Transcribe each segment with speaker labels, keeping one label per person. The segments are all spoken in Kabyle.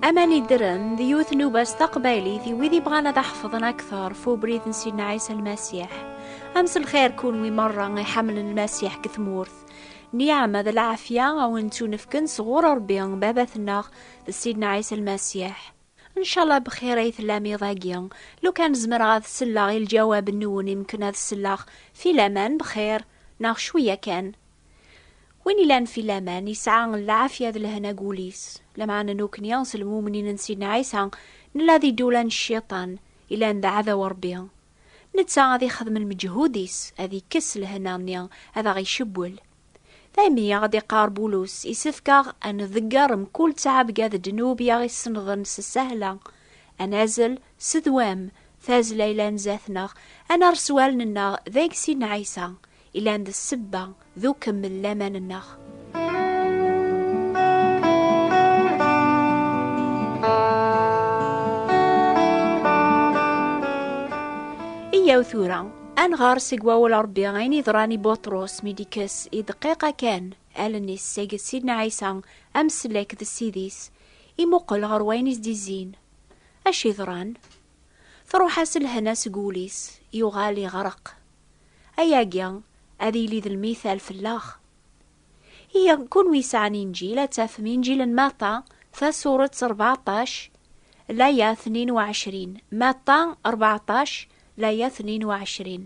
Speaker 1: Aman Iddren d yiwet n ubas taqbaylit i wid ibɣan ad aḥefḍen akteṛ f ubrid n Sidna Ɛisa Lmasiḥ. Am s lxir kunwi meṛṛa i ḥemmlen Lmasiḥ deg tmurt. Nniɛam d lɛafya a wen-ttunefken sɣur Ṛebbi Babat-nneɣ d Sidna Ɛisa Lmasiḥ. Ncallah bxir ay tellam iḍ-agi. Lukan zemreɣ ad selleɣ i lǧawab-nwen imken ad selleɣ, filaman bxir, neɣ cwiya kan. Win ilan fi laman, isɛa lɛafya d lehna deg wul-is. Lameɛna nukni, s lmumnin n Sidna Ɛisa, nella di ddula n cciṭan, ilan d aɛdaw n Rebbi. Netta ad ixdem lmeǧhud-is, ad ikkes lehna-nni, ad aɣ-icewwel. Daymi i aɣ-d-iqqar Bulus, Isefk-aɣ ad nḍegger mkul ttɛebga d ddnub i aɣ-isennḍen s ssahla, ad nazzel s ddwam tazzla ilan zdat-neɣ, ad nerr s wallen-nneɣ deg Sidna Ɛisa, Ilan d ssebba d ukemmel laman-nneɣ. Iyyaw tura, ad nɣer seg wawal Ṛebbi ayen yeḍran i Buṭrus mi d-ikkes i dqiqa kan allen-is seg Sidna Ɛisa amsellek d Ssid-is, imuqel ɣer wayen i s-d-izzin. Acu yeḍran? Truḥ-as lehna seg wul-is, yuɣal iɣreq. Ayagi ad yili d lmithal fell-aɣ. Ihi, kunwi yesɛan Inǧil, ad tafem Inǧil n Matta, tasuret rbeɛṭac, laya tnin u ɛecrin. Matta rbeɛṭac, laya tnin u ɛecrin.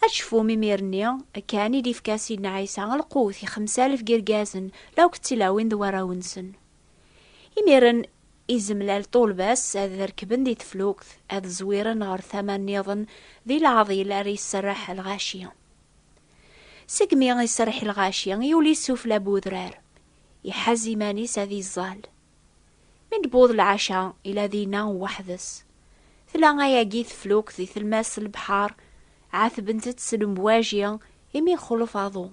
Speaker 1: Ad tecfum imir-nni kan i d-ifka Sidna Ɛisa lqut i xemsalef n yirgazen, la ukk d tilawin d warraw-nsen. Imiren, izemlal ṭulba-s ad rekben di teflukt, ad zwiren ɣer tama-nniḍen, di leɛḍil ara iserreḥ lɣaci. Segmi iserreḥ lɣaci, yuli sufla n udrar, iḥaz iman-is ad iẓẓal. Mi d-tewweḍ lɛaca, ila dinna weḥd-s. Tla ayagi teflukt di telmas n lebḥar, ɛatbent-tt s lemwaji, imi ixulef aḍu.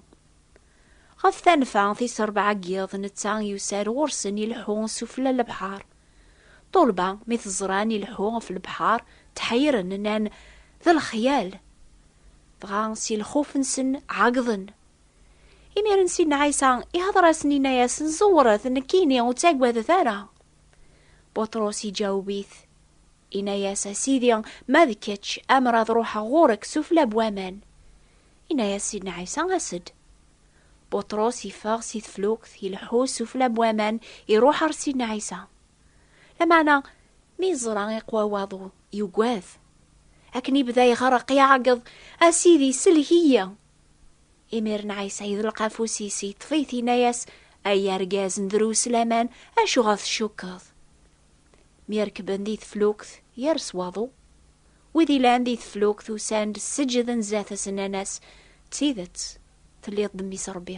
Speaker 1: Ɣef tanfa, tis rebɛa n yiḍ, netta yusa-d ɣur-sen ileḥḥu sufella n lebḥer. Ṭṭulba, mi t-ẓran ileḥḥu ɣef lebḥer, tḥeyren, nnan, D lexyal! Dɣa, si lxuf-nsen, ɛeggḍen. Imiren Sidna Ɛisa ihdeṛ-asen, inna-yasen, Ẓewret, nekkini, ur ttaggadet ara! Buṭrus iǧaweb-it, inna-yas, A Sidi, ma d kečč, amer ad ṛuḥeɣ ɣur-k sufella n waman. Yenna-yas Sidna Ɛisa, As-d! Buṭrus yeffeɣ si teflukt, ileḥḥu sufella n waman, iruḥ ɣer Sidna Ɛisa. Lameɛna, mi yeẓra iqwa waḍu, yugad. Akken yebda iɣreq, iɛeggeḍ, A Sidi, sellek-iyi! Imiren Ɛisa yeḍleq afus-is, yeṭṭef-it, yenna-yas, Ay argaz n drus laman, acuɣer tcukkeḍ? Mi rekben di teflukt, yers waḍu. Wid ilan di teflukt usan-d seǧǧden zdat-s nnan-as, d tidet, telliḍ d mmi-s Rebbi.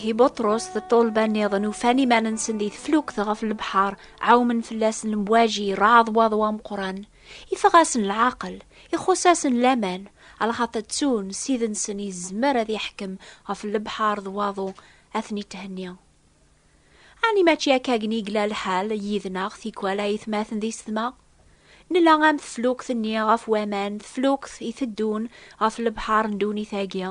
Speaker 1: i Butros d ṭṭulba nniḍen ufan iman-nsen di teflukt ɣef lebḥer, ɛawmen fell-asen lemwaji, raḍ waḍu ameqran. Iffeɣ-asen leɛqel, ixuṣṣ-asen laman, lxaṭer ttun Ssid-nsen yezmer ad yeḥkem ɣef lebḥer d waḍu ad ten-ithenni. Ɛni mačči akkagn i yella lḥal yid-neɣ tikwal ayetmaten di setma? Nella am teflukt-nni ɣef waman, teflukt iteddun ɣef lebḥer n ddunit-agi.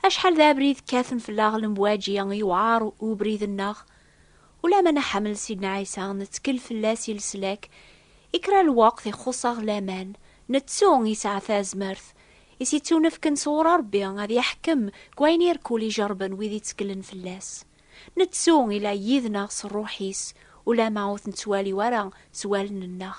Speaker 1: Acḥal d abrid kkaten fell-aɣ lemwaǧi, yewɛer ubrid-nneɣ. Ula ma nḥemmel Sidna Ɛisa, nettkel fell-as i leslak, i kra n lweqt ixuṣ-aɣ laman. Nettu yesɛa tazmert i s-ittunefken sɣur Ṛebbi ad iḥkem deg wayen irkul ijerrben wid itteklen fell-as. Nettu ila yid-neɣ s Ṛṛuḥ-is, ula ma ur t-nettwali ara s wallen-nneɣ.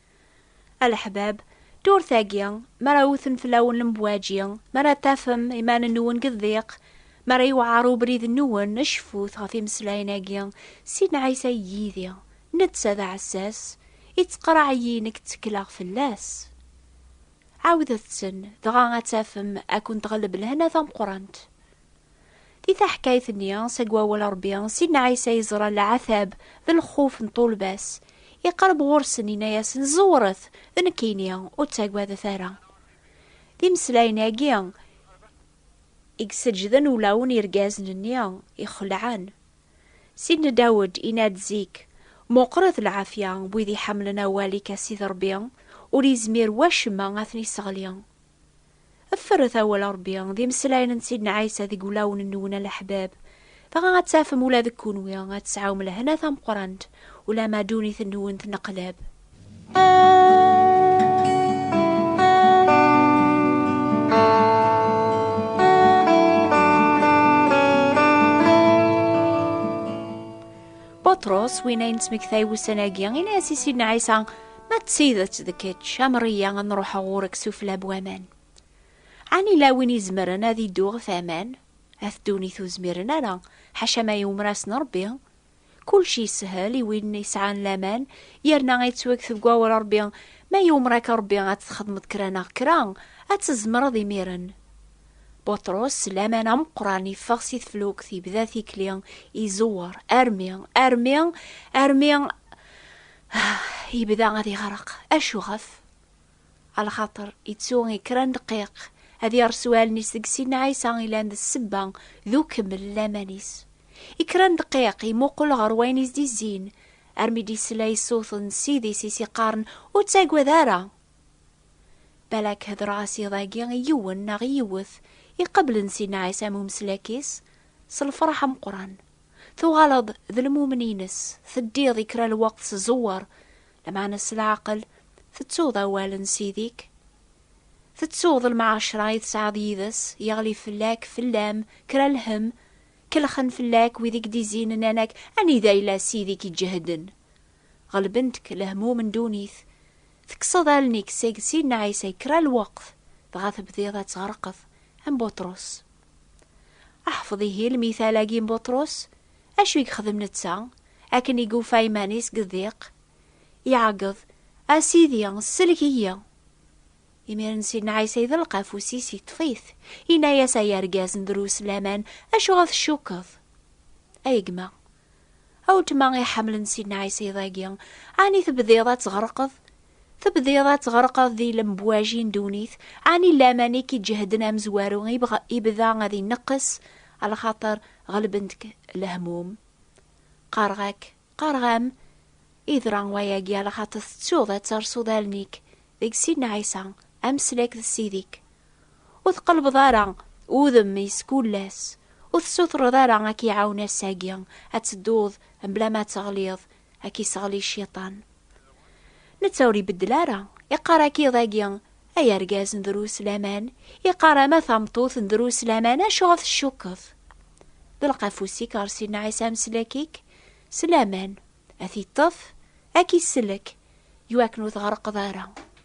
Speaker 1: A leḥbab, ddurt-agi, mi ara wten fell-awen lemwaǧi, mi ara tafem iman-nwen deg ddiq, mi ara yewɛer ubrid-nwen, cfut ɣef imeslayen-agi, Sidna Ɛisa yid-i, netta d aɛessas, ittqerreɛ-iyi nekk ttekleɣ fell-as. Ɛawdet-ten, dɣa ad tafem ad kent-ɣelleb lehna tameqqrant. Di taḥkayt-nni, seg wawal Ṛebbi, Sidna Ɛisa yeẓra leɛtab d lxuf n ṭṭulba-s. Iqerreb ɣur-sen, yenna-yasen, Ẓewret, d nekkini, ur ttagadet ara. D imeslayen-agi i yesseǧǧden ulawen n yirgazen-nni ixelɛen. Sidna Dawed yenna-d zik, Meqqret lɛafya n wid iḥemmlen awal-ik a Sidi Ṛebbi, ur yezmir wacemma ad ten-isseɣli. Fferret awal n Ṛebbi, d imeslayen n Sidna Ɛisa deg wulawen-nwen a leḥbab. Dɣa ad tafem ula deg kunwi ad tesɛum lehna tameqqrant, ulamma ddunit-nwen tneqleb. Buṭrus, win ay nettmektay ussan-agi, yenna-as i Sidna Ɛisa, Ma d tidet d kečč, amriya ad nruḥeɣ ɣur-k sufla n waman. Ɛni la win izemren ad iddu ɣef aman? At ddunit ur zmiren ara, ḥaca ma yumer-asen Rebbi. Kullec yeshel i win yesɛan laman, yerna yettwagget deg wawal Rebbi. Ma yumer-ak Rebbi ad txedmeḍ kra neɣ kra, ad tzemreḍ imiren. Buṭrus s laman ameqqran yeffeɣ si teflukt, yebda tikli, izewwer, armi, armi, armi, Ah, yebda ad iɣreq. Acu ɣef? Ala xaṭer ittu i kra n dqiq ad yersu allen-is deg Sidna Ɛisa ilan d ssebba d ukemmel n laman-is. I kra n dqiq imuqel ɣer wayen is d-izzin, armi d-isla i ṣṣut n Ssid-is i s-iqqaren ur ttagad ara! Balak hedreɣ-as iḍ-agi i yiwen neɣ i yiwet iqeblen Sidna Ɛisa am umeslak-is s lferḥ ameqqran. tuɣaleḍ d lmumen-ines, teddiḍ i kra lweqt s ẓewwer, lameɛna s leɛqel, tettuḍ awal n Ssid-ik? Tettuḍ lmɛacra i tesɛiḍ yid-s, yeɣli fell-ak, fell-am, kra lhemm? Kellxen fell-ak wid i k-d-izzin, nnan-ak, Anida yella Ssid-ik iǧehden? Ɣelbent-k lehmum n ddunit, tekkseḍ allen-ik seg Sidna Ɛisa i kra lweqt, dɣa tebdiḍ ad tɣerqeḍ am Buṭrus. Aḥfeḍ ihi lmital-agi n Buṭrus, acu i yexdem netta akken i yufa iman-is deg ddiq? Iɛeggeḍ, A Sidi, sellek-iyi! Imiren Sidna Ɛisa iḍelq afus-is, iṭṭef-it, inna-yas, Ay argaz n drus laman, acuɣer tcukkeḍ? Ay gma, a weltma iḥemlen Sidna Ɛisa iḍ-agi, ɛni tebdiḍ ad tɣerqeḍ? Tebdiḍ ad tɣerqeḍ di lembwaji n ddunit, ɛni laman i k-iǧehden amezwaru ibda ad ineqqes, lxaṭer ɣelbent-k lehmum? Qqareɣ-ak, qqareɣ-am, yeḍra wayagi lxaṭer tettuḍ ad tersuḍ allen-ik deg Sidna Ɛisa, ameslak d Ssid-ik. Ur tqellbeḍ ara udem i skullas, ur tessutreḍ ara ad k-iɛawen ass-agi ad tedduḍ mebla ma teɣliḍ ad k-iseɣli cciṭan. Netta ur ibeddel ara, iqqar-ak iḍ-agi, ay argaz n drus laman, iqqar ama tameṭṭut n drus laman, acuɣer tcukkeḍ? D lqafus-ik ɣer Sidna Ɛisa Ameslek-ik, s laman, ad t-iṭṭef, ad k-isellek, iwakken ur tɣerqeḍ ara.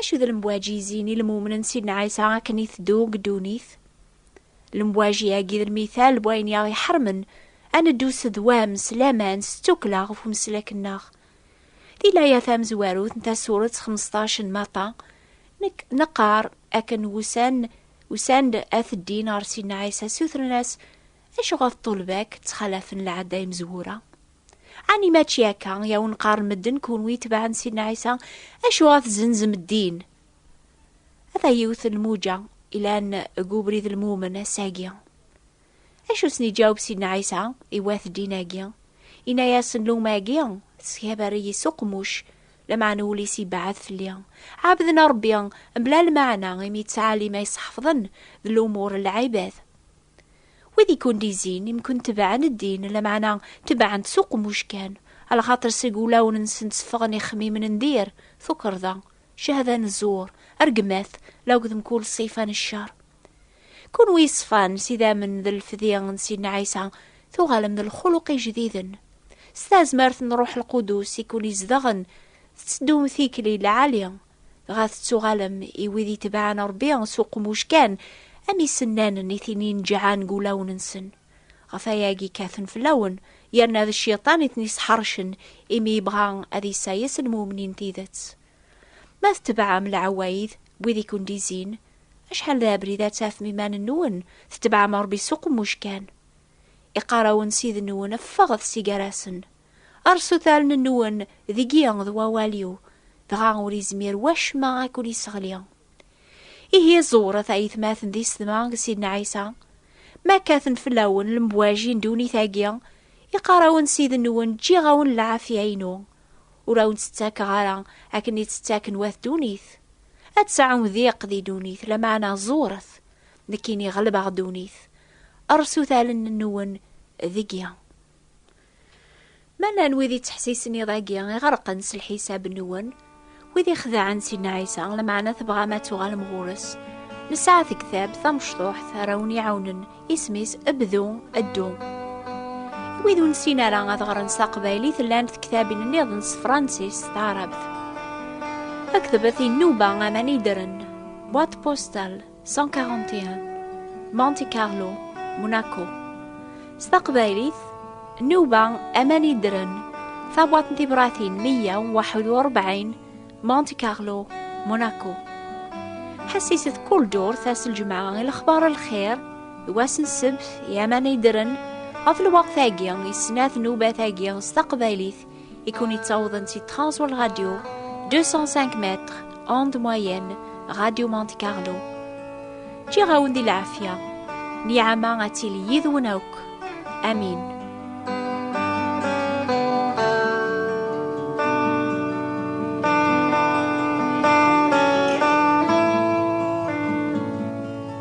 Speaker 1: Acu d lemwaǧi-zin i lmumnen Sidna Ɛisa akken i teddu deg ddunit? Lemwaǧi-agi d lmital n wayen i aɣ-iḥermen ad neddu s ddwam, s laman, s ttukkla ɣef umeslak-nneɣ. Di laya tamezwarut n Tasuret xmesṭac n Maṭa, neqqar akken wusan usan-d ad t-ddin ɣer Sidna Ɛisa, sutren-as Acuɣer ṭṭulba-k ttxalafen lɛada imezwura? Ɛni mačči akka i awen-qqaren medden, kunwi itebɛen Sidna Ɛisa? Acuɣer tzenzem ddin? Ata yiwet n lmuǧa ilan deg ubrid n lmumen ass-agi. Acu sen-iǧaweb Sidna Ɛisa i wat ddin-agi? Inna-yasen, Luma-agi tesgabar-iyi s uqmuc, lameɛna ul-is ibeɛɛed fell-i. Ɛebden Ṛebbi mebla lmeɛna, imi ttɛalima iseḥfḍen d lumur n lɛibad. Wid i kent-izin, imken tebɛen ddin, lameɛna tebɛen-t s uqemmuc kan, alxaṭer seg wulawen-nsen tteffɣen ixemmimen n dir, tukerḍa, cehda n zzur, rregmat, la akked mkul ṣṣifa n ccer. Kunwi yeṣfan s idammen d lefdi n Sidna Ɛisa, tuɣalem d lxuluq ijdiden. S tazmert n Ṛṛuḥ Lqudus i ken-izedɣen, tetteddum tikli lɛali, Dɣa tettuɣalem i wid itebɛen Ṛebbi s uqmuc kan, am isennan n itin ineǧǧɛen deg wulawen-nsen. Ɣef wayagi kkaten fell-awen, yerna d Cciṭan i ten-isḥeṛcen, imi yebɣa ad isayes lmumnin n tidet. Ma tetebɛem leɛwayed n wid i ken-d-izzin, acḥal d abrid ad tafem iman-nwen tetebɛem Ṛebbi s uqmuc kan! Iqqar-awen Ssid-nwen, Ffɣet si gar-asen! Rrṣut allen-nwen deg-i d wawal-iw, dɣa ur izmir wacemma ad ken-isseɣli. Ihi ẓewret a yetmaten d isetma n Sidna Ɛisa, ma kkaten fell-awen lembwaji n ddunit-agi, iqqar-awen Ssid-nwen ǧǧiɣ-awen lɛafya-inu, ur awen-tt-ttakeɣ ara akken i tt-ttaken wat ddunit. Ad tesɛum diq di ddunit, lameɛna ẓewret, nekkini ɣelbeɣ ddunit. Rrṣut allen-nwen deg-i. Ma llan wid yettḥessisen iḍ-agi iɣerqen s lḥisab-nwen, wid ixedɛen Sidna Ɛisa, lmeɛna tebɣam ad tuɣalem ɣur-s, nesɛa tektab tamecṭuḥt ara wen-iɛawnen, isem-is Bdu, Ddu. I wid ur nessin ara ad ɣren s taqbaylit, llant tektabin nniḍen s Fransis, s taɛrabt. Akdebet i nnuba aman i ddren, boîte postale. 141 Monte Carlo Monaco S taqbaylit Nuba aman iddren Tabwat n tibratin 141 Monte Carlo Monaco Ḥessiset kul durt ass lǧemɛa i lexbar lxir d wass n ssebt i aman iddren ɣef lweqt-agi i snat nubat-agi s taqbaylit I kun i tawḍen si Transworld Radio 205 mètres onde moyenne Radio Monte Carlo. Ǧǧiɣ-awen di lɛafya, niɛama ad tili yid-wen akk. Amin.